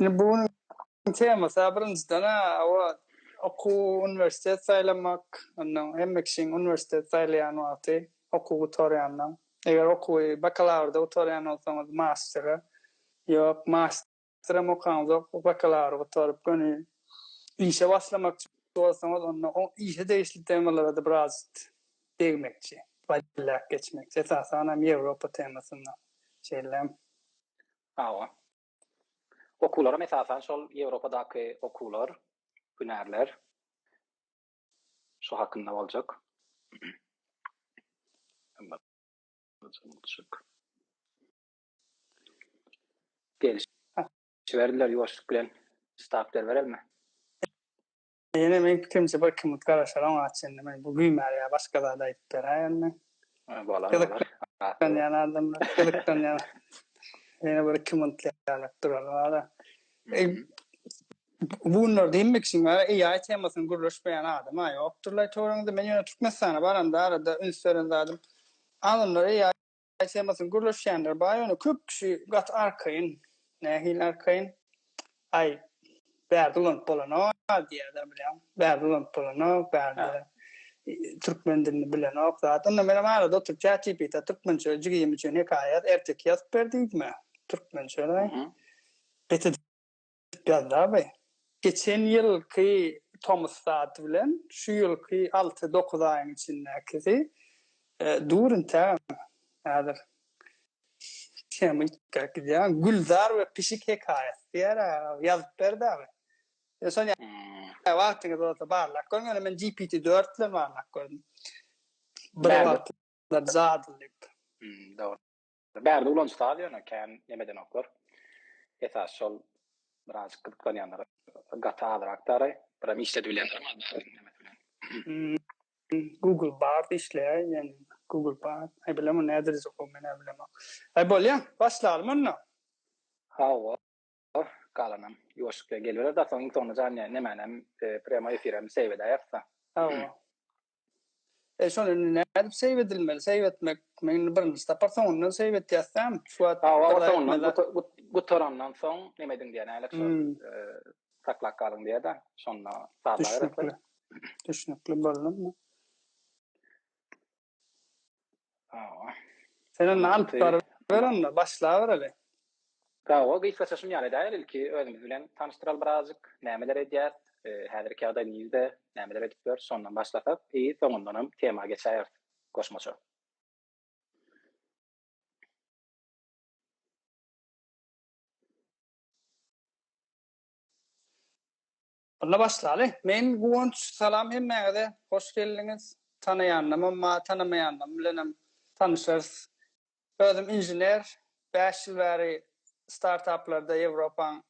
Indi bu gün temasy birinjiden owa okuw uniwersitet saýlamak, ondan hemme kişiň uniwersitet saýlaýan wagty okuw gutarýandan, eger okuwy bakalawrda gutarýan bolsaňyz mastere, ýok masterem okaňyzok bakalawry gutaryp göni işe başlamakçy bolsaňyz onda o işe degişli temalarada biraz degmekçi, ballak geçmekçi esasanam Ýewropa temasynda şeýle Hawa. Okuwlaram esasan şol Ýewropadaky okuwlar, hünärler. Şu hakynda boljak. Gelşiberdiler ýuwaşlyk bilen. Start berberelmi? Ýene meň pikirimçe bir kimlik garaşar oňa çenli men bu güýmär ýa başga zat aýdyp beräý onda. Bolar bolar. Gyzyklanýan adamlar gyzyklanýan ýene bir iki minut ýalak durar wara. Bu günler diýmek üçin wara AI temasyny gürleşmeýän adama ýokdurlaý töweregiňizde men ýöne Türkmenistana baranda arada üns beren zadym adamlar AI Temasyny gürleşýänler bar, ýöne köp kişi gaty arkaýyn. Nähili arkaýyn? Aý, bärde ulanyp bolanok diýýärler, bilýäňmi? Bärde ulanyp bolanok, bärde türkmen dilini bilenok zat. Onda men hem arada oturyp ChatGPT-ä türkmençe jigim üçin hekaýa ýaz, erteki ýazyp ber diýdim-ä, türkmençe-de. Beter Gazzaby, geçen ýylky tomusdaty bilen şu ýylky alty-dokuz aýyň içindäkisi dur entägem häzir tema üýtgäp gidýär. Gülzar we pişik hekaýasy diýer ýazyp berdaby. Şony wagtyňyz bolsa barlap görüň. Ýöne men GPT dört bilen barlap gördüm. Bir wagtlar jadylyk. Dogry. Bärde ulanyş saz ýöne kän neme edenoklar. Esasy şol biraz gyzyklanýanlar gaty azyrak däraý. Biram işledip bilýänlerim bar bärde nemesi bilen. Google bard işleýär ýöne Google bard. Aý bilemok näderejik ol menä bilemok. Aý bolýa başlalymy onda. Hawa Oh, galanam ýuwaşykja geliberer Dasoň iň soňunda jan ýa nemänem prýamoý efirem seýw edäýeris-a. Hawa. E şony indi nädip seýw edilmeli? Seýw etmek men indi birinji sapar soňundan seýw etýäs däm. Şu wagt gutarandan soň neme ediň diýýär nälik şol saklap galyň diýýär-de şonda sazlaýarys. Düşnükli. Düşnükli boldumy? Sen onda alyp baryber onda, başlabereli. Hawa, gysgaça şuny ýaly edäýeli, ilki özümiz bilen tanyşdyraly birazajyk, nämeler edýäs, häzirki ýagdaý nirde, nämeler edip ýörs, şondan başlasak, i, soňundanam tema geçäýeris goşmaça. Onda başlaly. Men Guwanç, salam hemmäňize, hoş geldiňiz. Tanaýanymam bar, tanamaýanymam bilenem tanyşarys. Özüm inžener, bäş ýyl bäri startaplarda Ýewropaň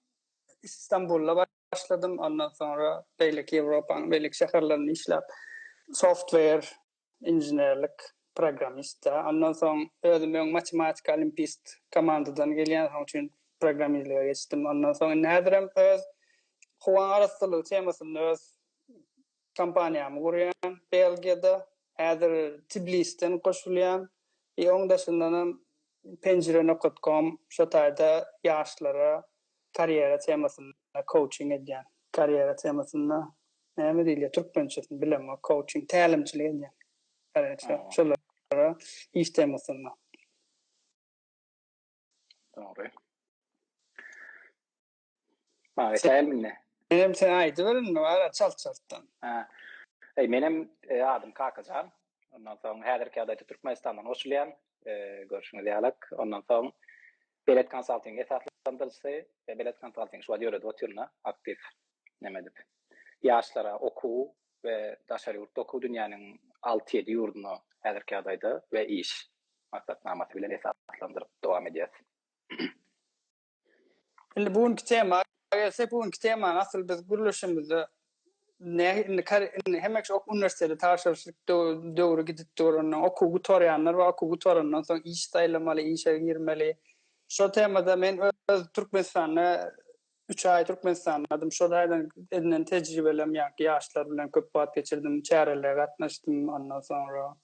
Stambulda başladym, ondan soňra beýleki Ýewropaň beýleki şäherlerinde işläp, software, inženerlik programmist da ondan soň özüm öň matematik olimpist komandadan gelýän soň üçin programmizlige geçdim ondan soň indi häzirem öz howa arassalygy temasynda öz kompaniýamy gurýan belgiýada häzir tiblisden goşulýan i oň daşyndanam penjire nokat kom şo taýda ýaşlara Karýera temasynda kouçing edýän. Karýera temasynda näme diýilýär türkmençesini bilemok kouçing tälimçilik edýän. Gareýşe şolara iş temasynda. Dogry. Maňa tälimini. Menem sen aýdyber indi wara çalt çaltdan. Ha. Eý menem adym Kakajan. Ondan soň häzirki ýagdaýda Türkmenistandan goşulýan. Görşüňiz ýalak. Ondan soň Belet konsalting esaslandyryjysy we Belet konsalting şu wagt ýöredip otyryn-a aktiw näme edip. Ýaşlara okuw we daşary ýurtda okuw dünýäniň alty-ýedi ýurduna häzirki ýagdaýda we iş maksatnamasy bilen esaslandyryp dowam edýäs. Indi bu günki tema gelsek, bu günki temany asyl biz gürleşimizde Indi hemek şu uniwersitete tabşyryşlyk döwri gidip duranda, okuw gutarýanlar bar, okuw gutarandan soň iş saýlamaly, işe girmeli. Şo temada men öz Türkmenistanda üç aý Türkmenistanladym. Şo taýdan edinen tejribelem ýaňky ýaşlar bilen köp wagt geçirdim, çärelere gatnaşdym. Ondan soňra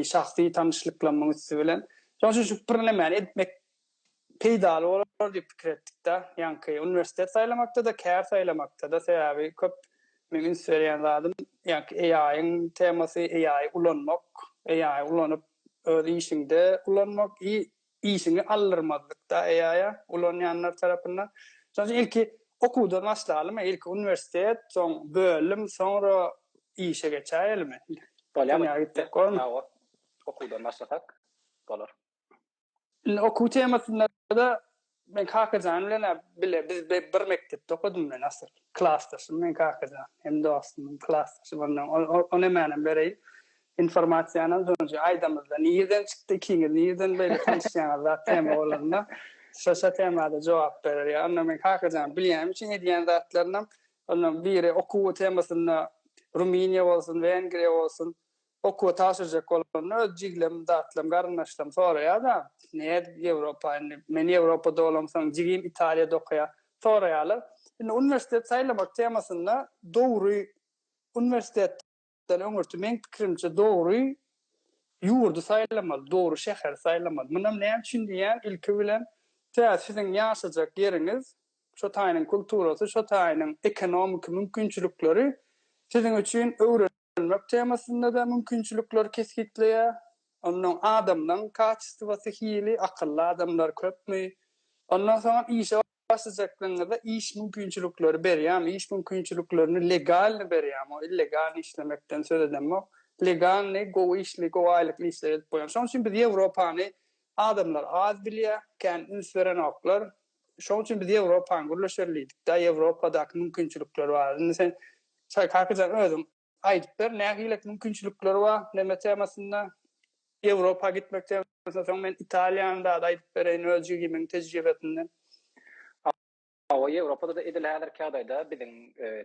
şahsy tanyşlyklarymyň üsti bilen. Şonuň üçin şu birnämäni etmek peýdaly bolar diýip pikir etdik-de. Ýaňky uniwersitet saýlamakda-da, kär saýlamakda-da, sebäbi köp meň üns berýän zadym, ýaňky AI-yň temasy, AI-y ulanmak, AI-y ulanyp, öz işiňde ulanmak i işiňi aldyrmazlyk-da AI-a, ulanýanlar tarapyndan. Şonuň üçin ilki okuwdan başlalymy, ilki uniwersitet, soň bölüm, soňra işe geçäýelimi? Bolýar, bolýar. Okuwdan başlasak bolar. Indi okuw temasynda-da men Kakajan bilen bile biz bir mekdepde okadym men asyl. Klasdaşym men Kakajan. Hem dostumyň klasdaşy ondan. O nemänem bereýin. Informasiýanam şonça aýdamyzda nirden çykdy ikiňiz nirden beýle tanyşýaňyz zat tema bolanda şo-şo temada jogap berer ýa onda men Kakajan bilýänim üçin edýän zatlarynam ondan biri okuw temasynda Rumyniýa bolsun, Wengriýa bolsun Okuwa tabşyrjak bolanda öz jiglem, datlam, garyndaşlam soraýar-da, Nädip Ýewropa indi? Men Ýewropada bolamsoň, jigim Italiýada okaýar. Soraýarlar. Indi uniwersitet saýlamak temasynda dogry uniwersitetden öňürti meň pikirimçe dogry ýurdy saýlamaly, dogry şäheri saýlamaly. Munam näme üçin diýýän, ilki bilen tä siziň ýaşajak ýeriňiz, şo taýynyň kulturasy, şo taýynyň ekonomiki mümkinçilikleri siziň üçin öwre Ösdürmek temasynda-da mümkinçilikleri kesgitleýär. Onnoň adamlaň kaçestwasy hili, akylly adamlar köpmi? Ondan soňam işe başlajaklygyňyzda iş mümkinçilikleri berýärmi? Iş mümkinçiliklerini legalny berýärmi? O illegalny işlemekden söz edemok. Legalny, gowy işli, gowy aýlykly işler edip goýan. Şonuň üçin biz Ýewropany adamlar az bilýär, kän üns berenoklar. Şoň üçin biz Ýewropany gürleşeli diýdik-de, Ýewropadaky mümkinçilikler bar. Indi sen, Çary kakajan, özüň aýdyp ber, nähilek mümkinçilikler bar neme temasynda, Ýewropa gitmek temasynda, soň men Italiýany dady aýdyp bereýin öz jigimiň tejribesinden. Hawa, Ýewropada-da edil häzirki ýagdaýda biziň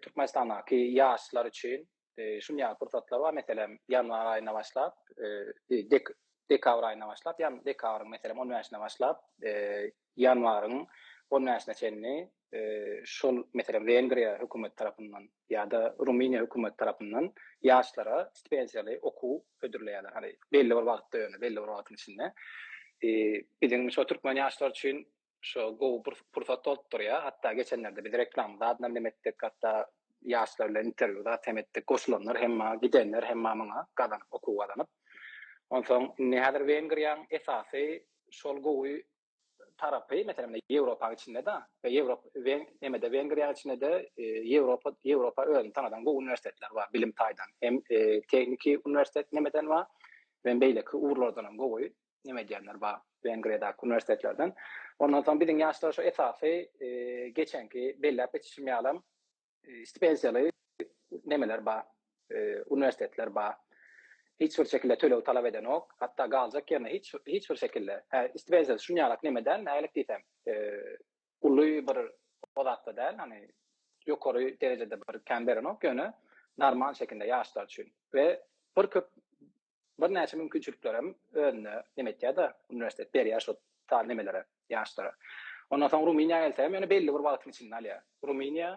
Türkmenistandaky ýaşlar üçin e, şun ýaly pursatlar bar. Meselem, ýanwar aýyna başlap, e, dek, dekabr aýyna başlap, ýan dekabryň meselem 15-ne başlap, e, ýanwaryň 15-ne çenli e, şol meselem Wengriýa hökümet tarapyndan ýa-da Rumyniýa hökümet tarapyndan ýaşlara stipendiýaly okuw hödürleýärler. Hani belli bir wagtda ýöne belli bir wagtyň içinde. E, biziň şu türkmen ýaşlar üçin Şu gowy bir pursat bolup durýar. Hatda geçenlerde biz reklama zat bilen hem etdik, hatda ýaşlar bilen interwýu zat hem etdik. Goşulanlar hem bar, gidenler hem bar muňa gazanyp, okuw gazanyp. Onsoň indi häzir Wengriýanyň esasy şol gowy tarapy, meselem, Ýewropanyň içinde-de we Ýewrop we nemede Wengriýanyň içinde-de Ýewropa, Ýewropa özüni tanadan gowy uniwersitetler bar bilim taýdan. Hem tehniki uniwersitet nemeden bar, hem beýleki ugurlardan hem gowy. neme edýänler bar, Wengriýadaky uniwersitetlerden. Ondan soň biziň ýaşlar şu esasy geçenki belläp geçişim ýalam stipenziýaly nemeler bar, uniwersitetler bar. Hiç bir şekilde töleg talap edenok. Hatda galjak ýerine hiç hiç bir şekilde. Hä, stipenziýa şunýalak neme däl, nälik diýsem, uly bir o zatda däl, hany ýokary derejede bir kän berenok, ýöne normal şekilde ýaşlar üçin we bir köp Birnäçe mümkinçilikler hem özünde neme etýär-de, uniwersitet berýär şo taly nemelere, ýaşlara. Ondan soň Rumyniýa gelsegem ýöne belli bir wagtyň içinde alýar. Rumyniýa,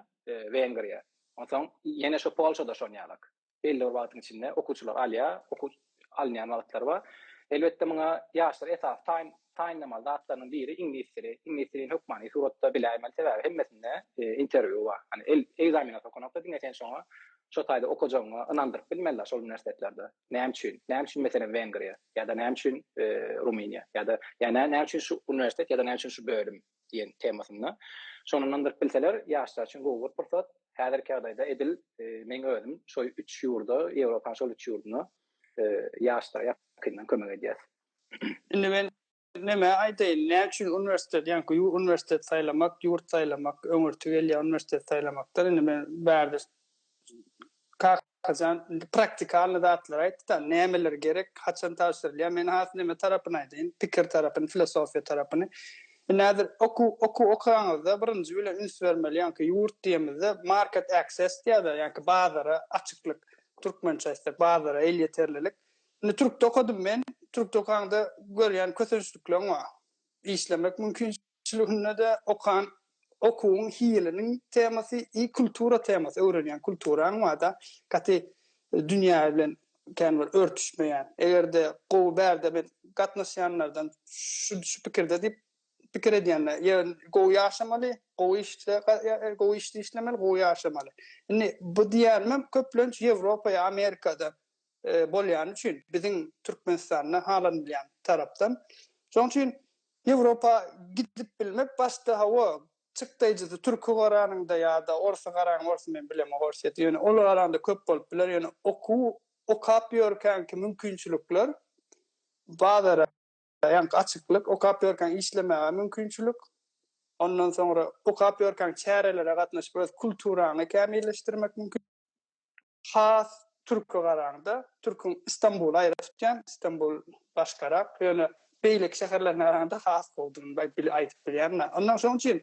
Wengriýa. Onsoň ýene şo Polşada şon ýalak. Belli bir wagtyň içinde okuwçylar alýar, okuw alynýan wagtlary bar. Elbetde muňa ýaşlar esasy taýyn Taýynlamaly zatlarynyň biri iňlis dili. Iňlis dilini hökmany suratda biläýmeli, sebäbi hemmesinde interwýu bar. Hani ekzaminat okanokda diňe sen şoňa şo taýda okajagyňa ynandyryp bilmeli-la şol uniwersitetlarda. Näme üçin? Näme üçin meselem Wengriýa ýa-da näme üçin Rumyniýa ýa-da ýa-da näme üçin şu uniwersitet ýa-da näme üçin şu bölüm diýen temasynda şony ynandyryp bilseler ýaşlar üçin gowy bir pursat. Häzirki ýagdaýda edil meň özüm şo üç ýurda, Ýewropanyň şol üç ýurduna ýaşlara ýakyndan kömek edýäs. Indi men näme aýdaýyn, näme üçin uniwersitet, ýaňky ýurt uniwersitet saýlamak, ýurt saýlamak öňürti gelýär uniwersitet saýlamakdan, indi men bärde Kakajan indi praktikalnyý zatlary aýtdy-da, nämeler gerek, haçan tabşyrylýar, men has näme tarapyny aýdaýyn, pikir tarapyny, filosofiýa tarapyny. Indi häzir okuw, okuw okanyňyzda birinji bilen üns bermeli, ýaňky ýurt diýemizde market access diýýärler, ýaňky bazara açyklyk, türkmençe aýtsak bazara elýeterlilik, Indi türkde okadym men. Türkde okanda görýän kösençlikleň bar. Işlemek mümkinçiliginde-de okan okuwyň hiliniň temasy i kultura temasy, öwrenýän kulturaň bar-da, gaty dünýä bilen kän bir örtüşmeýän. Eger-de gowy bärde men gatnaşýanlardan şu pikirde diýip pikir edýänler. Ýa gowy ýaşamaly, gowy işde gowy işde işlemeli, gowy ýaşamaly. Indi bu diýýänimem köplenç Ýewropa ýa Amerikada bolýany üçin biziň Türkmenistanda halanylýan tarapdan. Şonuň üçin Ýewropa gidip bilmek başda hawa çykdaýjysy türki garanyňda ýa-da orsy garaň orsy men bilemok orsýeti ýöne ol garaňda köp bolup biler ýöne okuw okap ýörkänki mümkinçilikler bazara ýaňky açyklyk okap ýörkäň işlemäge mümkinçilik ondan soňra okap ýörkäň çärelere gatnaşyp öz kulturaňy kämilleşdirmek mümkin. has türke garaňda, türküň Istanbuly aýra tutýan, Istanbul başgarak, ýöne beýleki şäherlerine garaňda has gowudygyny aýt bil aýdyp bilýän men. Ondan şoň üçin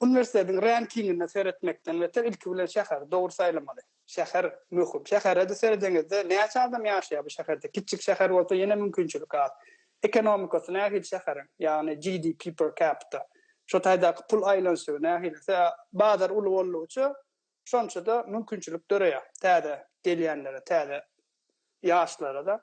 uniwersitetiň rankingine seretmekden beter ilki bilen şäheri dogry saýlamaly. Şäher möhüm. Şähere-de seredeňizde näçe adam ýaşaýar bu şäherde? Kiçjik şäher bolsa ýene mümkinçilik az. Ekonomikasy nähili şäheriň? Ýagny GDP per capita. Şo taýdaky pul aýlanyşygy nähili? Bazar uly boldugyça Şonça-da mümkinçilik döreýär täze gelýänlere, täze ýaşlara-da.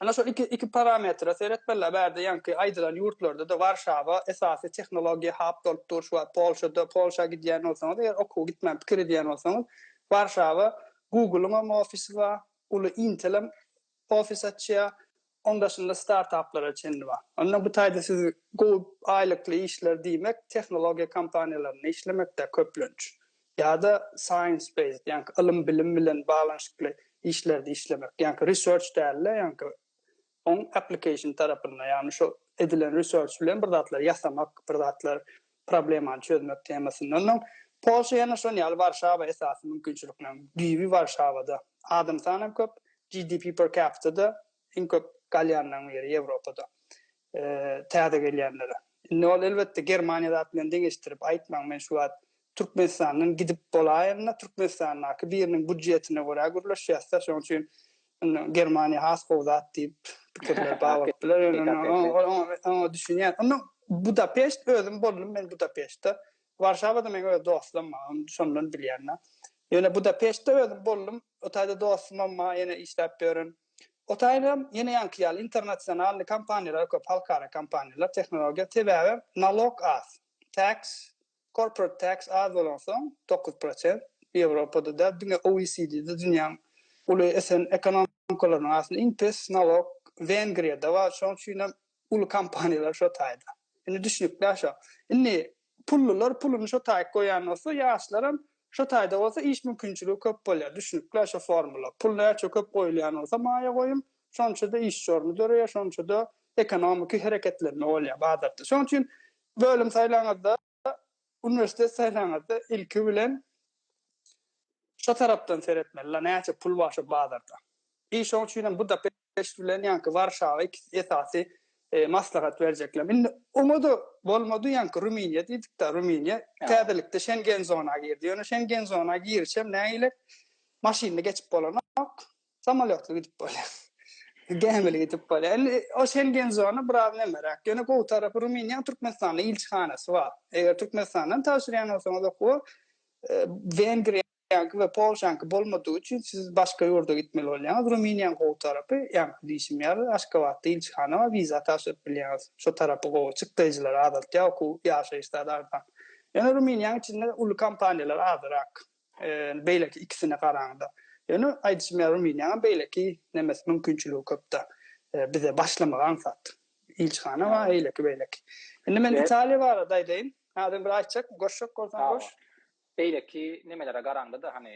Ana şol iki iki parametre seretmeliler. Bärde ýaňky aýdylan ýurtlarda-da Warşawa esasy tehnologiýa hap bolup dur. Şu wagt Polşada, Polşa gidýän bolsaňyz, eger okuwa gitmän pikir edýän bolsaňyz, Warşawa Google-yňam ofisi bar, uly Intel-em ofis açýar. Oň daşynda startaplara çenli bar. Onda bu taýda siz gowy aýlykly işler diýmek tehnologiýa kompaniýalarynda işlemekdä köplenç. Ýa-da science based, ýaňky ylym bilim bilen baglanyşykly işlerde işlemek. Ýaňky research däl-de, ýaňky oň application tarapynda, ýagny şo edilen research bilen bir zatlar ýasamak, bir zatlar Problemany çözmek temasyndan soň, Polşa ýene şol ýaly Warşawa esasy mümkinçilikleriň düýbi Warşawada. Adam sany hem köp, GDP per capita-da iň köp galýanlaryň biri Ýewropada täze gelýänlere. Indi ol elbetde Germaniýa zat bilen deňeşdirip aýtmaň, men şu wagt Türkmenistandan gidip bolaýanda Türkmenistandaky biriniň býudjetine görä gürleşýäs-de, şonuň üçin Indi Germaniýa has gowy zat diýip pikirler bar bolup biler. Ýöne oňa düşünýän. Indi Budapeşt özüm boldum men Budapeştde. Warşawada meň öz dostlam bar. Ony şondan bilýän da. Ýöne Budapeştde özüm boldum. O taýda dostumam bar ýene işläp ýören. O taýda ýene ýaňky ýaly internasionalny kompaniýalar köp, halkara kompaniýalar, tehnologiýa sebäbi nalog az. Tax Corporate tax az bolansoň, dokuz prosent, Ýewropada däl, diňe OECD-de dünýäň uly ösen ekonomikalarynyň arasynda iň pes nalog Wengriýada bar. Şonuň üçin hem uly kompaniýalar şo taýda. Indi düşnükli-ä şo. Indi pullular puluny şo taýy goýan bolsa, ýaşlaram şo taýda bolsa iş mümkinçiligi köp bolýar. Düşnükli-ä şo formula. Pul näçe köp goýulýan bolsa maýa goýum, şonça-da işçi orny döreýär, şonça-da ekonomiki hereketlenme bolýar bazarda. Şonuň üçin Bölüm saýlaňyzda, uniwersitet saýlaňyzda ilki bilen şo tarapdan seretmeli, la näçe pul bar şo bazarda. Bi şoň üçin hem Budapeşt bilen ýaňky Warşawa ikisi esasy maslahat berjekler. Indi oňa-da bolmady, ýaňky Rumyniýa diýdik-de, Rumyniýa täzelikde Şengen zona girdi. Ýöne Şengen zona giriş hem nägilek, maşynly geçip bolanok. Samolýotly gidip bolýar. Gämili gidip bolýar. Indi o Şengen zona biraz nemeräk. Ýöne gowy tarapy Rumyniýanyň Türkmenistanda ilçihanasy bar. Eger Türkmenistandan tabşyrýan bolsaňyz okuwa e, Wengriýa Russiýanyňky we Polşanyňky bolmadygy üçin siz başga ýurda gitmeli bolýaňyz. Rumyniýanyň gowy tarapy, ýaňky diýşim ýaly, Aşgabatda ilçihana bar, wiza tabşyryp bilýäňiz. Şo tarapy gowy, çykdaýjylary azaltýar, okuw, ýaşaýyş zady arzan. Ýöne Rumyniýanyň içinde uly kompaniýalar azrak. Beýleki ikisine garaňda. Ýöne aýdyşym ýaly Rumyniýanyň beýleki nemes mümkinçiligi köpda. Bize başlamagy aňsat. Ilçihana bar eýleki beýleki. Indi men Italiýa barada aýdaýyn. Adem bir aýtjak, goşjak bolsaň goş. Beýleki nemelere garaňda-da hany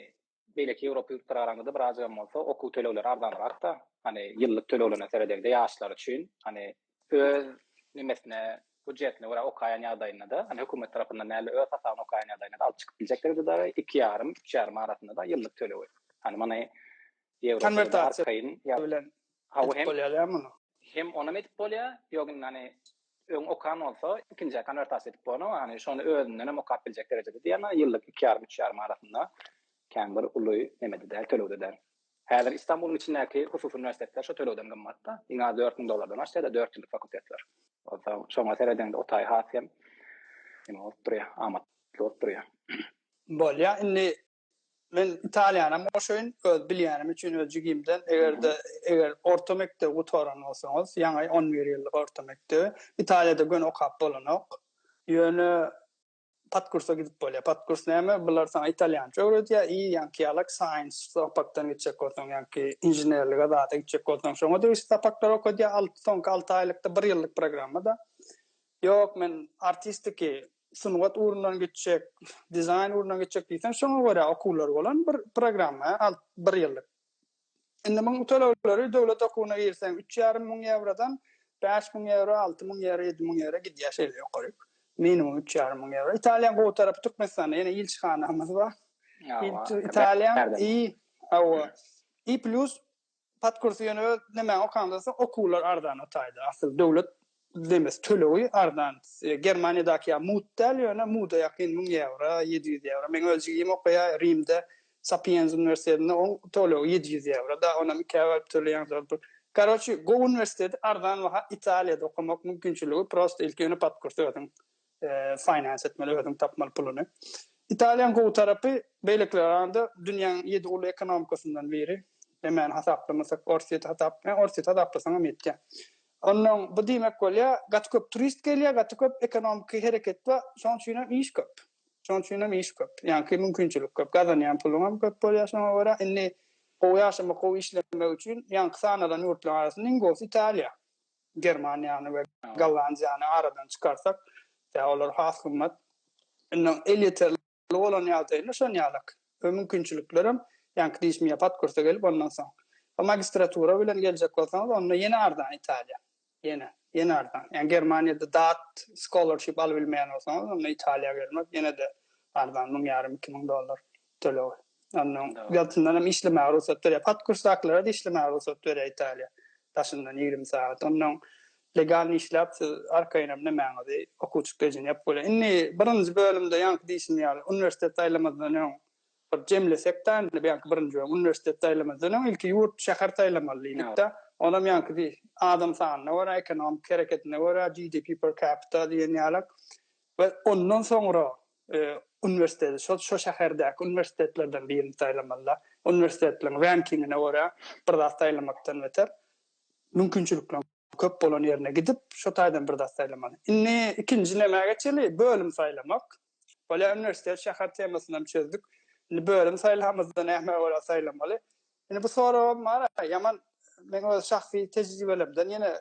beýleki Ýewropa ýurtlara garaňda-da birazajygam bolsa okuw tölegleri arzanrakda. Hany ýyllyk töleglerine seredeňde ýaşlar üçin hany öz nimesine, hüjjetine görä okaýan ýagdaýynda-da, hani hökümet tarapyndan däl-de, öz hasabyna okaýan ýagdaýynda-da alyp çykyp biljekdir ýa-da iki ýarym, üç ýarym arasynda-da ýyllyk tölewi. Hani muny Ýewropada arkaýyn ýa-da Edip bolýar ýa muny? Hem onam edip bolýar, ýok indi hani öň okan bolsa, ikinjä konwertasiýa edip bolan, o hani şony özünden hem okap biljek derejede diýýär, ýyllyk iki ýarym, üç ýarym arasynda kän bir uly neme-de däl, tölew-de däl. Häzir Istanbulyň içindäki hususy uniwersitetler şo tölegden gymmat-da, iň az dört müň dollardan aşsa-da dört ýyllyk fakultetler. Onsoň şoňa seredeňde o taý has hem neme bolup durýar, amatly bolup durýar. Bolýar, indi men Italiýanam goşaýyn, öz bilýänim üçin, öz jigimden, eger-de, eger orta mekdebi gutaran bolsaňyz, ýaňy on bir ýyllyk orta mekdebi, Italiýada göni okap bolanok, ýöne Podkursa gidip bolýar. Podkurs näme? Bular saňa italýança öwredýär i ýaňky ýalak science sapakdan gitjek bolsaň, ýaňky inženerlige zada gitjek bolsaň, şoňa degişli sapaklar okadýar. Alty soňky alty aýlykda bir ýyllyk programmada. Ýok, men artistiki, sungat ugrundan gitjek, dizaýn ugrundan gitjek diýseň, şoňa görä okuwlar bolan bir programma, bir ýyllyk. Indi munuň töleglary döwlet okuwyna girseň üç ýarym müň ýewrodan bäş müň ýewro, alty müň ýewro, ýedi müň ýewro gidýär şeýle ýokaryk. Minimum üç ýarym müň ýewro. Italiýanyň gowy tarapy Türkmenistanda ýene ilçihanamyz bar. Italiýa i hawa. I plus podkursy ýöne nemäň okansoň okuwlar arzan o taýda. Asyl döwlet Üzlemes tölegi arzan. Germaniýadaky ýaly mut däl, ýöne muda ýakyn, müň ýewro, ýedi ýüz ýewro. Meň öz jigim okaýar Rimde, Sapienza uniwersitetinde, oň tölegi ýedi ýüz ýewro. Dagy onam ikä bölüp töleýäň zor pul. Karoçi, gowy uniwersiteti, arzan baha, Italiýada okamak mümkinçiligi prosta ilki ýöne podkurs özüň. finance etmeli özüň tapmaly puluny. Italiýanyň gowy tarapy beýlekilere garanda dünýäň ýedi uly ekonomikasyndan biri. Emani hasaplamasak Orsýeti hasaplaýan Orsýeti hasaplasaňam ýetýä. Onnoň bu diýmek bolýa gaty köp turist gelýä gaty köp ekonomiki hereket bar şoň üçinem iş köp. Şoň üçinem iş köp. Ýaňky mümkinçilik köp gazanýan puluňam köp bolýa şoňa görä indi gowy ýaşamak gowy işlemek üçin ýaňky sanalan ýurtlaryň arasynda iň gowusy Italiýa. Germaniýany we Gollandiýany aradan çykarsak, tä olar has gymmat. Indi elýeterli bolan ýagdaýynda şon ýalyk we mümkinçiliklerem, ýaňky diýşim ýa podkursa gelip, ondan soň ýa magistratura bilen geljek bolsaňyz, onda ýene arzan Italiýa. Ýene, ýene arzan. Ýagny Germaniýada dat, scholarship alybilmeýän bolsaňyz, onda Italiýa gelmek ýene-de arzan, müň ýarym, iki müň dollar. Töleg. Ondan ýagtyndan hem işlemäge rugsat berýär. Podkursdakylara-da işlemäge rugsat berýär Italiýa daşyndan ýigrimi sagat. Ondan legalny işläp, siz arkaýyn hem nämäňizi, okuwçylyk rejini ýapyp bolýar. Indi birinji bölümde ýaňky diýşim ýaly, uniwersitet saýlamazdan öň bir jemlesek-dä indi, ýaňky birinji bölüm, uniwersitet saýlamazdan öň ilki ýurt, şäher saýlamaly diýdik-de. Onam ýaňky di, adam sanyna görä, ekonomiki hereketine görä, GDP per capita diýen ýaly we ondan soňra uniwersiteti şol şo şäherdäki uniwersitetlerden birini saýlamalyda. Uniwersitetleriň rankingine görä bir zat saýlamakdan beter, mümkinçilikleriň köp bolan ýerine gidip, şo taýdan bir zat saýlamaly. Indi ikinji nämä geçeli, bölüm saýlamak. Bolýar, uniwersitet, şäher temasyny hem çözdük. Indi bölüm saýlamazda nämä görä saýlamaly? Indi bu soragam bar-a, ýaman meň öz şahsy tejribelemden ýene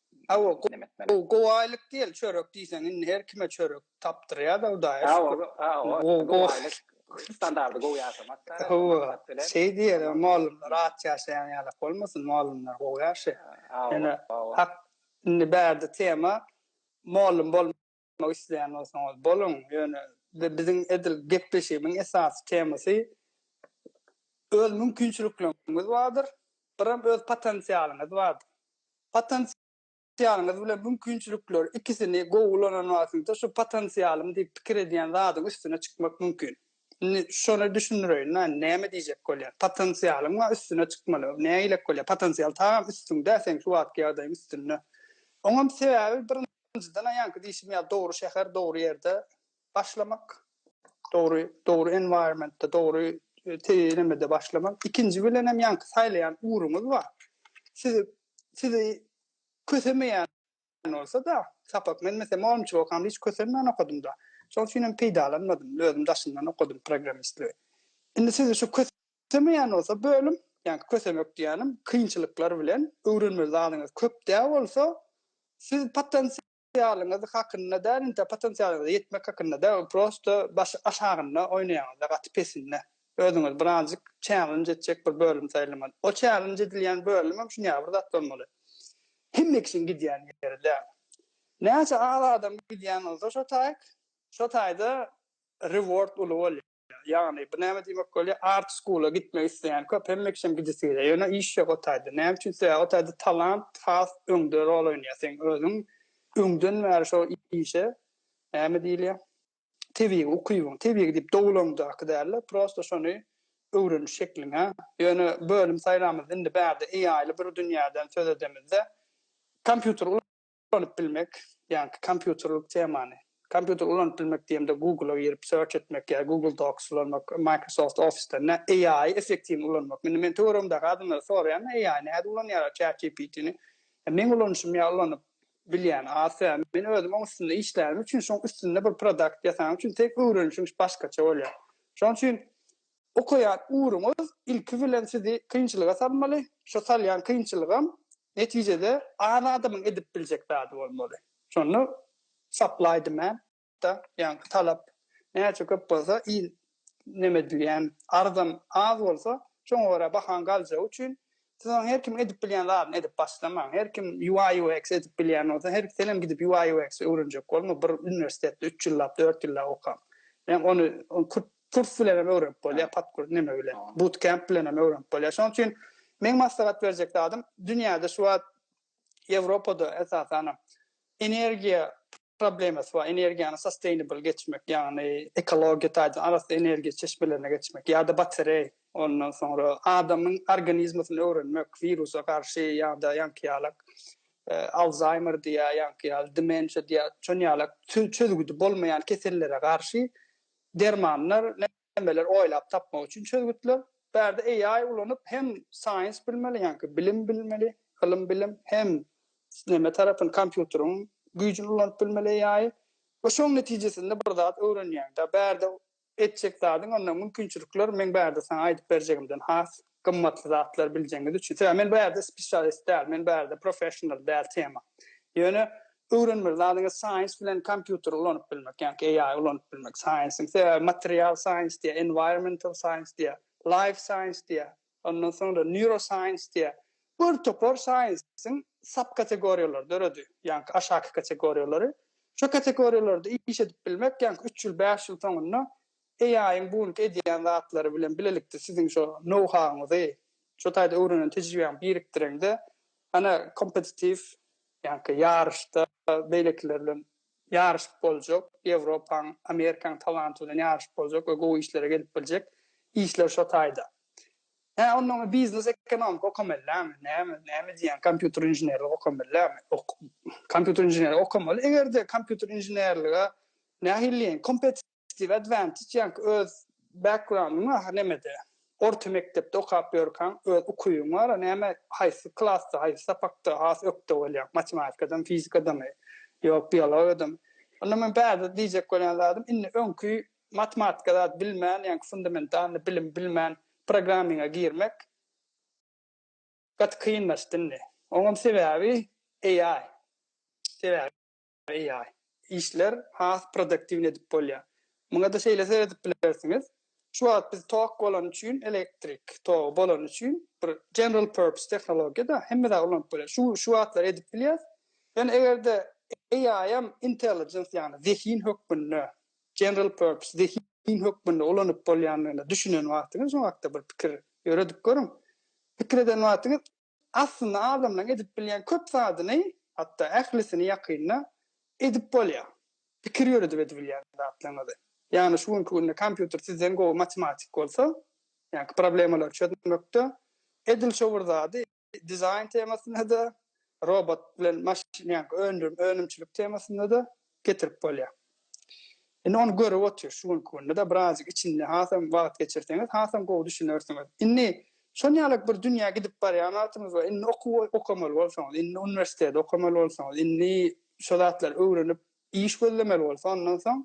Hawa gowy aýlyk diýeli çörek diýseň indi her kime çörek tapdyrýada hudaýa şükür. Gowy aýlyk standardy gowy ýaşamakda. Hawa şeý diýeli mugallymlar aç ýaşaýan ýalak bolmasyn mugallymlar gowy ýaşaýar. Ýöne hak indi bärde tema mugallym bolmak. Ýazmak isleýän bolsaňyz boluň, ýöne biziň edil gepleşigimiň esasy temasy öz mümkinçilikleriňiz bardyr, birem öz potensialyňyz bardyr. Potensialyňyz bilen mümkinçilikler ikisini gowy ulanan wagtyňyzda şu potensialym diýip pikir edýän zadyň üstüne çykmak mümkin. Indi şony düşündireýin, näme diýjek bolýan. Potensialyň bar, üstüne çykmaly. Nägilek bolýar, potensial tagam üstüňde, seň şu wagtky ýagdaýyň üstünde. Oňam sebäbi birinji Birinjiden aýanky diýşim ýaly dogry şäher, dogry ýerde başlamak, dogry dogry environmentde, dogry teýelemede başlamak. Ikinji bilen hem ýanky saýlaýan ugruňyz bar. Siz sizi kösemeýän bolsa-da, sapak men mesela mugallymçylyk okamda hiç kösenmän okadym-da. Şonuň üçin hem peýdalanmadym. Özüm daşyndan okadym programmistligi. Indi sizi şu kös Islemeýän bolsa bölüm, ýa-da kösemek diýýänim, kynçylyklar bilen öwrenmeli zadyňyz köp däl bolsa, siz potensialyňyz hakynda däl, entä potensialyňyza ýetmek hakynda däl, prosto başy aşagynda oýnaýaňyzda, gaty pesinde. Özüňiz birazjyk çälenj etjek bir bölüm saýlamaly. O çälenj edilýän bölümem şuňýaly bir zat bolmaly. Hemme kişiň gidýän ýeri däl. Näçe az adam gidýän bolsa şo taýk, şo taýda reward uly bolýar. Ýagny bu näme diýmek bolýar? Art school-a gitmek isleýän köp, hemmekiçem gidesi gelýär. Ýöne iş ýok o taýda. Näme üçin? Sebäbi o taýda talant has öňde rol oýnaýar. Seň özüň öňden bäri şo işe näme diýilýär? Tebigy ukybyň, tebigy diýip dogulaňdaky däl-de, prosta şony öwreniş şekliň-ä. Ýöne bölüm saýlamyzda indi bärde AI-ly bir dünýäden söz edemizde, kompýuter ulanyp bilmek, ýaňky kompýuterlik temany, kompýuter ulanyp bilmek diýemde Google-a girip search etmek ýa Google Docs ulanmak, Microsoft Office-de nä AI-y effektiwni ulanmak. Indi men töweregimdäki adamlara soraýan AI-ny nädip ulanýarlar ChatGPT-ni. Meň ulanyşym ýa ulanyp bilýän az sebäbi men özüm oň üstünde işlänim üçin şoň üstünde bir produkt ýasaň üçin tek öwrenişiň başgaça bolýar. Şoň üçin Okaýan ugruňyz ilki bilen sizi kynçylyga salmaly, şo salýan kynçylygam netijede az adamyň edip biljek zady bolmaly. Şonda supply demand da, ýaňky talap näçe köp bolsa, il neme edilýän arzam az bolsa, şoňa görä bahaň galjagy üçin siz onuň her kim edip bilýän zadyny edip başlamaň. Her kim UI UX edip bilýän bolsa, her senem gidip UI UX öwrenjek bolma, bir uniwersitetde üç ýyllap, dört ýyllap oka. Ony kurt Kurs bilen hem öwrenip bolýar, podkurs neme bilen, butkemp bilen hem öwrenip bolýar. Şonuň üçin meň maslahat berjek zadym, dünýäde şu wagt Ýewropada esasanam energiýa problemasy bar, energiýany sustainable geçmek, ýagny ekologiýa taýdan arassa energiýa çeşmelerine geçmek ýa-da batereý, ondan soňra adamyň organizmasyn öwrenmek, wirusa garşy ýa-da ýaňky ýaly Alzaýmer diýýär, ýaňky ýaly demensiýa diýýär, şonuň ýaly çözgüdi bolmaýan kesellere garşy Dermanlar, nämeler oýlap tapmak üçin çözgütler. Bu ýerde AI ulanyp hem science bilmeli, ýaňky bilim bilmeli, ylym bilim hem neme tarapyny kompýuteriň güýjini ulanyp bilmeli AI. We şoň netijesinde bir zat öwrenýäňda bärde etjek zadyň onda mümkinçilikler meň bärde saňa aýdyp berjegimden has gymmatly zatlar biljegiňiz üçin sebäbi men bu ýerde spesialist däl men bu ýerde professional däl tema ýöne öwrenmeli zadyňyz science bilen kompýuter ulanyp bilmek ýa-ki AI ulanyp bilmek science-iň sebäbi material science diýýär environmental science diýýär life science diýýär ondan soňra neuroscience diýýär bir topar science-iň sub kategoriýalary döredi ýa-ki aşaky kategoriýalary şo kategoriýalarda iş edip bilmek ýa-ki üç ýyl bäş ýyl soňunda AI-yň bu günki edýän zatlary bilen bilelikde siziň şo nou-hauňyzy, şo taýda öwrenen tejribäňi birikdireňde, ana, kompetitiw, ýaňky ýaryşda beýlekiler bilen ýaryşyp boljak, Ýewropaň, Amerikaň talanty bilen ýaryşyp boljak we gowy işlere gelip biljek işler şo taýda. Hä, onda oňa biznes ekonomika okamellämi, näme, näme diýýäň, kompýuter inženerlik okamellämi? Ok, kompýuter inženerlik okamaly, eger-de kompýuter inženerlige nähiliýeň kompet, Steve Advantage ýaňky öz background-yň ahyryn nemede? Orta mekdepde okap ýörkaň öz ukybyň bar-a näme haýsy klasda haýsy sapakda has ökde bolýaň matematikadamy fizikadamy ýok biologiýadamy onda men bärde diýjek bolýan zadym indi öňki matematika zat bilmän ýaňky fundamentalny bilim bilmän programminga girmek gaty kynlaşdy indi oňam sebäbi AI sebäbi. AI. Işler has produktiwny edip bolýar. Muňada şeýle seredip bilersiňiz, şu wagt biz tok bolany üçin, elektrik togy bolany üçin bir general purpose tehnologiýada hemme zat ulanyp bolýar. Şu şu zatlar edip bilýäs. Ýöne egerde AI-am intelligence ýagny zehin hökmünde general purpose zehin zehin hökmünde ulanyp bolýandygyna düşünen wagtyňyz şu hakda bir pikir ýöredip görüň. Pikir eden wagtyňyz Aslynda adamlaryň edip bilýän köp zadyny, hatda ählisini ýakynda edip bolýar. Pikir ýöredip edibilýän zatlaryňyzy. Ýagny şu günki günde kompýuter sizden gowy matematik bolsa, ýaňky problemalary çözmekde, edil şo bir zady dizaýn temasynda-da, robot bilen maşyn ýaňky öndürim, önümçilik temasynda-da getirip bolýar. Indi ony görüp otyr şu günki günde-de birazjyk içinde hasam wagt geçirseňiz hasam gowy düşünersiňiz. Indi şon ýalyk bir dünýä gidip barýan wagtyňyz bar. Indi okuw okamaly bolsaňyz, indi uniwersiteti okamaly bolsaňyz, indi şo zatlary öwrenip iş gözlemeli bolsa ondan soň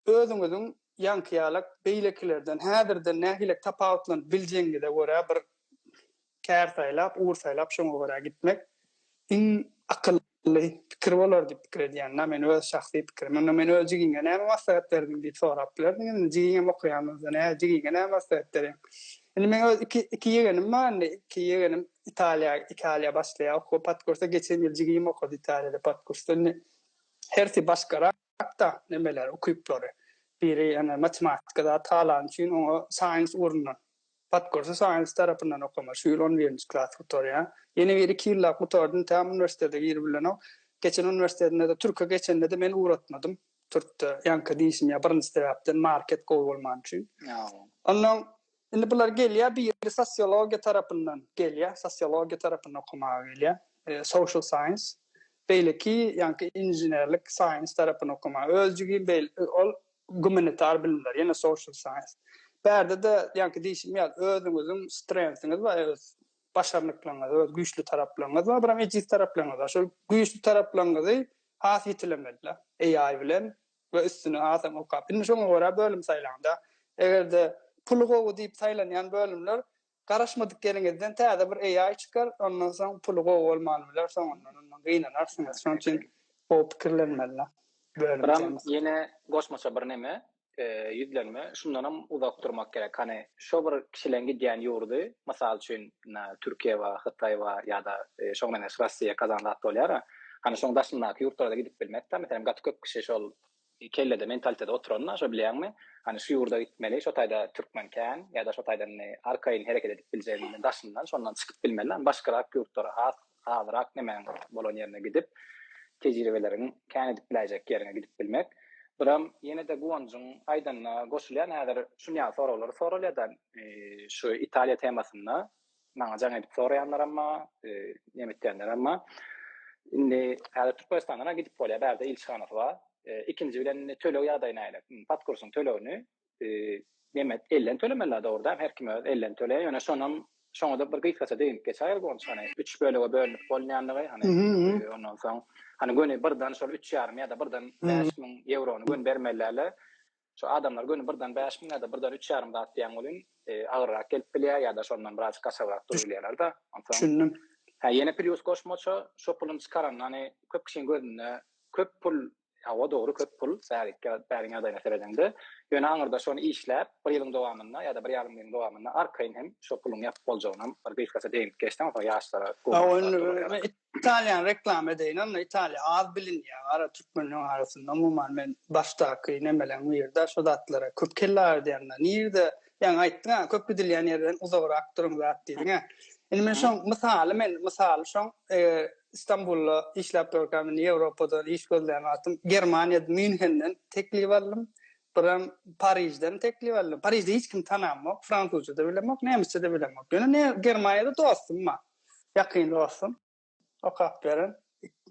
Özüňiziň ýaňkyýalak beýlekilerden häzirden nähilek tapawutlanyp biljegiňize görä bir kär saýlap, ugur saýlap şoňa görä gitmek iň akylly pikir bolar diýip pikir edýän. Na men öz şahsy pikirim. Onda men öz jigiňe näme maslahat berdiň diýip sorap bilerdiňiz. Indi jigiňem okaýan bolsa nähä jigiňe näme maslahat berýäň. Indi meň öz iki iki ýegenim bar indi. Iki ýegenim Italiýa Italiýa başlaýar okuwa podkursa. Geçen ýyl jigim okady Italiýada podkursda. Indi hersi başgarak. Hatda nemeler, ukyplary. Biri ene matematika zat halan üçin oňa science ugrundan, podkursu science tarapyndan okamaly. Şu ýyl on birinji klas gutarýa. Ýene biri iki ýyllap gutardym, tam uniwersitete girip bilenok. Geçen uniwersitetinde-de türke geçende-de men ugratmadym. Türkde ýaňky diýşim ýa birinji sebäpden market gowy bolman üçin. Onnoň Indi bular gelýär, biri sosiologiýa tarapyndan gelýär, sosiologiýa tarapyndan okamaga gelýär, social science, beýleki ýaňky inženerlik science tarapyny okamaga, özjigim beýl, ol gumanitar bilimler, ýene social science. Bärde-de ýaňky diýşim ýaly özüňiziň strength-iňiz bar, öz başarnyklaryňyz, öz güýçli taraplaryňyz bar, bir hem ejiz taraplaryňyz bar. Şol güýçli taraplaryňyzy has ýetilemeli-le. AI bilen we üstüni asaň okap. Indi şoňa görä bölüm saýlaňda. Eger-de puly gowy diýip saýlanýan bölümler garaşmadyk ýeriňizden täze bir AI çykar, ondan soň puly gowy bolman biler, soňundan ondan gynanarsyňyz. Şonuň üçin gowy pikirlenmeli bölüm Buram temasy. ýene goşmaça bir neme, ýüzlenme. Şundanam uzak durmak gerek. Hany, şo bir kişileň gidýän ýurdy, mysal üçin, Türkiýe bar, Hytaý bar ýa-da şoňa meňzeş Russiýa gazan zat bolýar-a. Hany şoň daşyndaky ýurtlara-da gidip bilmekdä. Meselem, gaty köp kişi şol kellede, mentalitede oturan-da, şo bilýäňmi? Hany şu ýurda gitmeli, şo taýda türkmen kän ýa-da şo taýda indi arkaýyn hereket edip biljegimiň daşyndan, şondan çykyp bilmeli-dä. Başgarak ýurtlara has Halyrak nämäň bolan ýerine gidip, tejribeleriň kän edip biläýjek ýeriňe gidip bilmek. Biram ýene-de Guwanjyň aýdanyna goşulýan, häzir şunýaly soraglar soralýa-da, şu Italiýa temasynda maňa jaň edip soraýanlaram bar, nemetýänlerem bar. Indi häzir Türkmenistandan-a gidip bolýar, bärde ilçihanasy bar. Ikinji bilen töleg ýagdaýy nähili? Podkursyň tölegini neme elden tölemeli la dogruda her kim öz elden töleýär ýöne şonam şoňada bir gysgaça degip geçäýeli gonç hany üç bölege bölünip bolmaýandygy hany ondan soň hany göni birden şol üç ýarym ýa-da birden bäş müň ýewrony göni bermeliläle şo adamlar göni birden bäş müň ýa-da birden üç ýarym zat diýen welin agyrrak gelip bilýär ýa-da şondan biraz gaçabrak durup bilýärler da onsoň düşündim hä ýene plýus goşmaça şo puluny çykaran hany köp kişiň gözünde köp pul Hawa, dogry, köp pul, bäriň ýagdaýyna seredeňde. Ýöne aňyrda şony işläp, bir ýylyň dowamynda ýa-da bir ýarym ýylyň dowamynda arkaýyn hem şo puluň ýapyp boljagyny bir gysgaça degip geçseň, şo ýaşlara gowy. Italiýany reklama edeýin onda, Italiýa az bilinýär gara türkmenleriň arasynda. Umuman men başdaky nemeleň biri-de şo zatlara köp kelle agyrdyanda. Nirede, ýaňy aýtdyň-a, köp gidilýän ýerden uzagrak duruň zat diýdiň-ä. Indi men şoň mysaly men mysaly şoň Istanbulda işläp durka men Ýewropadan iş gözlän wagtym Germaniýa Mýunhenden teklip aldym. Birem Parižden teklip aldym. Parižde hiç kimi tanamok, fransuzça-da bilemok, nemisçe-de bilemok. Ýöne ne Germaniýada dostum bar. Ýakyn dostum. Okap beren.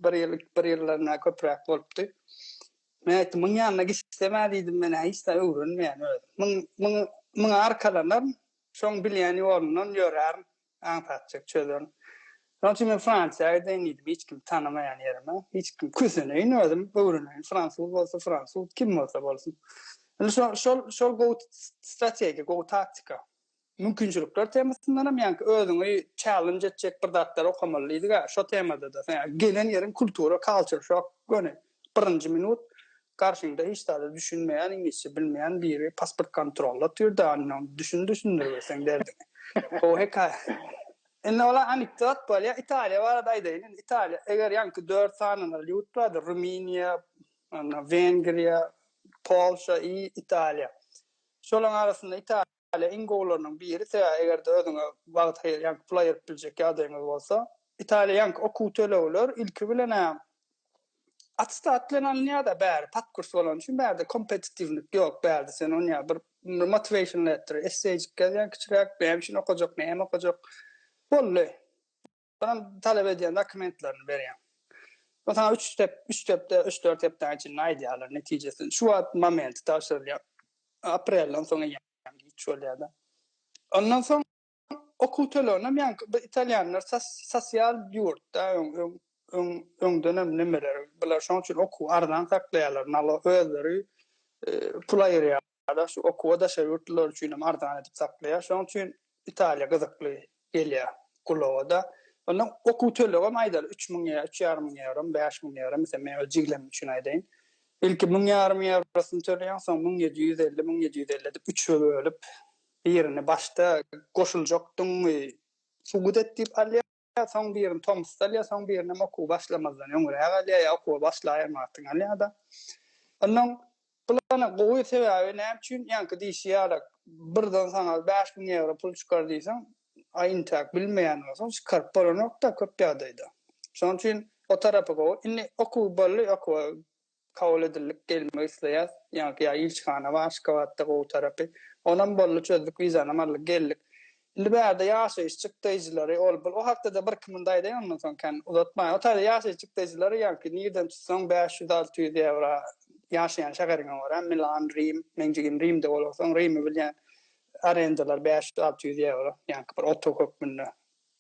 Bir ýyl, bir ýyldan-ä köpräk bolupdy. Men aýtdym, muň ýanyna gitsem-ä diýdim, men-ä hiç zat öwrenmeýän özüm. Muň, muňa, muňa arkalanaryn, şoň bilýän ýolundan ýörärin. Aň satjak çözüň. Şonuň üçin men Fransiýa gideýin diýdim, hiç kimi tanamaýan ýerime. Hiç kim küseneýin özüm, öwreneýin, fransuz bolsa fransuz, kim bolsa bolsun. Indi şo, şol, şol gowy strategiýa, gowy taktika. Mümkinçilikler temasyndan hem ýaňky özüňi challenge etjek bir zatlar okamaly diýdik-ä, şo temada-da. Gelen ýeriň kultura, culture shock göni. Birinji minut garşyňda hiç zada düşünmeýän, iňlisçe bilmeýän biri pasport kontrolda otyrdy, ondan düşün düşündiribesen derdiňi. Gowy hekaýa. Indi olar anekdot bolýar. Italiýa barada aýdaýyn. Indi Italiýa, eger ýaňky dört sanalan ýurt bardy, Rumyniýa, Wengriýa, Polşa i Italiýa. Şolaryň arasynda Italiýa. Italiýa iň gowularynyň biri sebäbi eger-de özüňe wagt aýyrýanky pul aýyryp biljek ýagdaýyňyz bolsa. Italiýanky okuw tölegler ilki bilenä attestat bilen alynýada bäri pat kurs bolany üçin bärde kompetitiwlik ýok bärde sen ony ýa bir motiweşn letter esseýjik ýazýaň kiçiräk näme üçin okajak näme okajak boldy. Soňam talap edýän dokumentlerini berýäň. Soň saňa üç step, üç stepde, üç-dört hepdäň içinde aýdýarlar netijesini. Şu wagt momenti tabşyrylýar. Aprelden soň eýýäm giç bolýar-da. Ondan soň okuw töleginem ýaňky bu italýanlar sosial ýurtda öň öň öňdenem nimeler bular şoň üçin okuw arzan saklaýarlar nalo özleri pul aýyrýarlar Ýa-da şu okuwa daşary ýurtlular üçin hem arzan edip saklaýar. Şonuň üçin Italiýa gyzykly gelýär gulaga-da. Onda okuw tölegem aýdaly üç müň ýa üç ýarym müň ýewro, bäş müň ýewro, meselem, meň öz jiglemim üçin aýdaýyn. Ilki müň ýarym ýewrosyny töleýän, soň müň ýedi ýüz elli, müň ýedi ýüz elli edip üçe bölüp, birini başda goşuljak dyngy subut et diýip alýar. Ýa soň birini tomusda al, ýa soň birinem okuwa başlamazdan öňräk al, ýa okuwa başlaýan wagtyň al ýa-da. Onnoň plany gowy, sebäbi näme üçin, ýaňky diýşi ýaly, birden saňa bäş müň ýewro pul çykar diýseň, a intäk bilmeýän bolsaň, çykaryp bolanok-da köp ýagdaýda. Şonuň üçin o tarapy gowy. Indi okuw boldy, okuwa kabul edildik gelmek isleýas ýaňky ýa ilçihana bar aşgabatda gowy tarapy onam boldy çözdük wizanam aldyk geldik indi bärde ýaşaýyş çykdaýjylary ol bul o hakdada bir iki munda aýdaýyn ondan soň kän uzatmaýyn o taýda ýaşaýyş çykdaýjylary ýaňky nirden tutsaň bäş ýüz alty ýüz ýewro ýaşaýan şäheriňe görä milan rim meň jigim rimde bolarsoň rimi bilýän arendalar bäş ýüz alty ýüz ýewro ýaňky bir otag hökmünde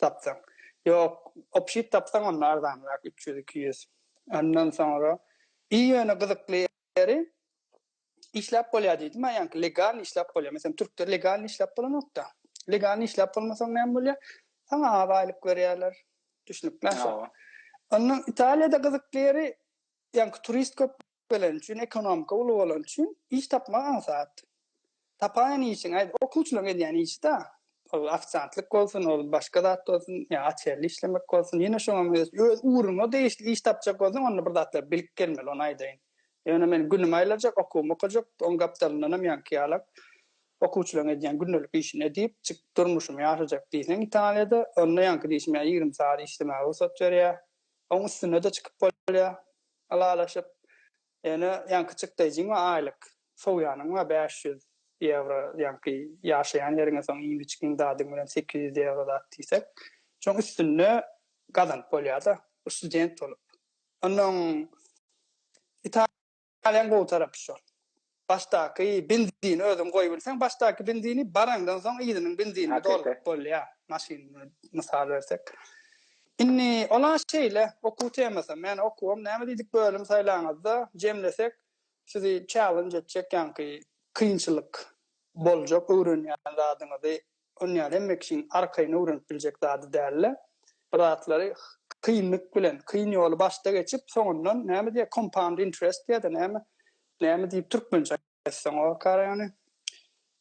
Tapsaň. Ýok, opşit tapsaň onda arzanrak üç ýüz, iki ýüz. Ondan soňra I ýöne gyzykly ýeri işläp bolýar diýdim a ýaňky legalny işläp bolýar. Meselem türkde legalny işläp bolanokda. Legalny işläp bolmasaň näme bolýar? Saňa az aýlyk berýärler. Düşnükli. Ondan Italiýada gyzykly ýeri ýaňky turist köp geleni üçin, ekonomika uly bolany üçin iş tapmak aňsat. Tapaýan işiň, aýt, okuwçylaryň edýän işi-dä. Ol ofisiantlyk bolsun, ol başga zat bolsun, ýa açerli işlemek bolsun, ýene şoňam öz ugruňa degişli iş tapjak bolsaň, onda bir zatlar bilip gelmeli, ony aýdaýyn. Ýöne men günümi aýlajak, okuwymy okajak, oň gapdalyndanam ýaňky ýala okuwçylaryň edýän gündelik işini edip, çykyp durmuşymy ýaşajak diýseň Italiýada, onda ýaňky diýşim ýaly ýigrimi sagat işlemäge rugsat berýär. Oň üstüne-de çykyp bolýar. Ylalaşyp, ýöne ýaňky çykdaýjyň we aýlyk sowýanyň we bäş ýüz ýewro ýaňky ýaşaýan ýeriňe soň iýim-içgiň zadyň bilen sekiz ýüz ýewro zat diýsek, şoň üstünde gazanyp bolýar-da, bu student bolup. Onnoň Italiýanyň gowy tarapy şol. Başdaky benzini özüň goýubilseň başdaky benzini baraňdan soň yzynyň benzinini dolduryp bolýar maşyn mysal bersek. Indi ola şeýle okuw temasam ýani okuwam näme diýdik bölüm saýlaňyzda jemlesek sizi challenge etjek ýaňky kynçylyk boljak öwrenýän zadyňyzy Onýaly hemme kişiň arkaýyn öwrenip biljek zady däldi. Bir zatlary kynlyk bilen, kyn ýoly başda geçip, soňundan näme diýýär, compound interest diýýä-de näme, näme diýip türkmençe aýtsaň o kara ýany,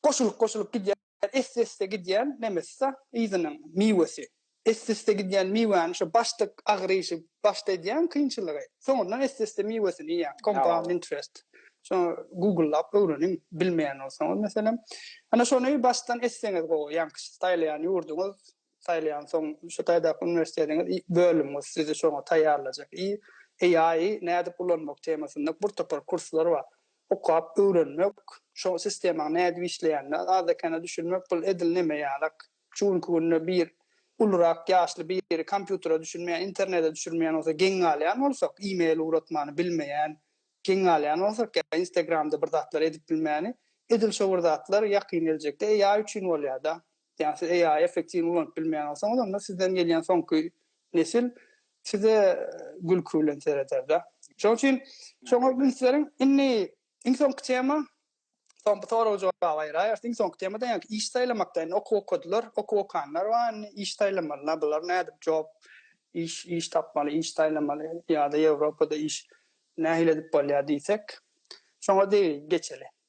goşulyp-goşulyp gidýän, esse-esse gidýän nemesi-de, yzynyň miwesi. Esdesde gidýän miwäni şo başda agyryşy, başda edýän kynçylygy, soňundan esdesde miwesini iýýän, compound interest. Şony googlelap öwreniň, bilmeýän bolsaňyz meselem. Ana şony başdan etseňiz gowy, ýaňky saýlaýan ýurduňyz, saýlaýansoň şu taýdaky uniwersitetiňiz, bölümiňiz sizi şoňa taýýarlajak. I AI-y nädip ulanmak temasynda bir topar kurslar bar. Okap öwrenmek, şo sistemaň nädip işleýänine azda-kände düşünmek, bul edil neme ýalak. Şu günki günde bir ulurak ýaşly biri kompýutere düşünmeýän, internete düşünmeýän bolsa geň galýan bolsak, e-mail ugratmany bilmeýän geň galýan bolsak, ýa instagramda bir zatlar edip bilmäni, edil şo bir zatlar ýakyn geljekde AI üçin bolýar-da. Ýa siz AI effektiwini ulanyp bilmeýän bolsaňyz, onda sizden gelýän soňky nesil size gülki bilen sereder-de. Şonuň üçin şoňa üns beriň. Indi iň soňky tema, Soň bu soraga jogap aýyraýarsyň. Soňky temada ýaňky iş saýlamakda indi okuw okadylar, okuw okanlar bar, indi iş saýlamalylar. Bular nädip job, iş, iş tapmaly, iş saýlamaly ýa-da Ýewropada iş nähili edip bolýar diýsek, şoňa deý geçeli.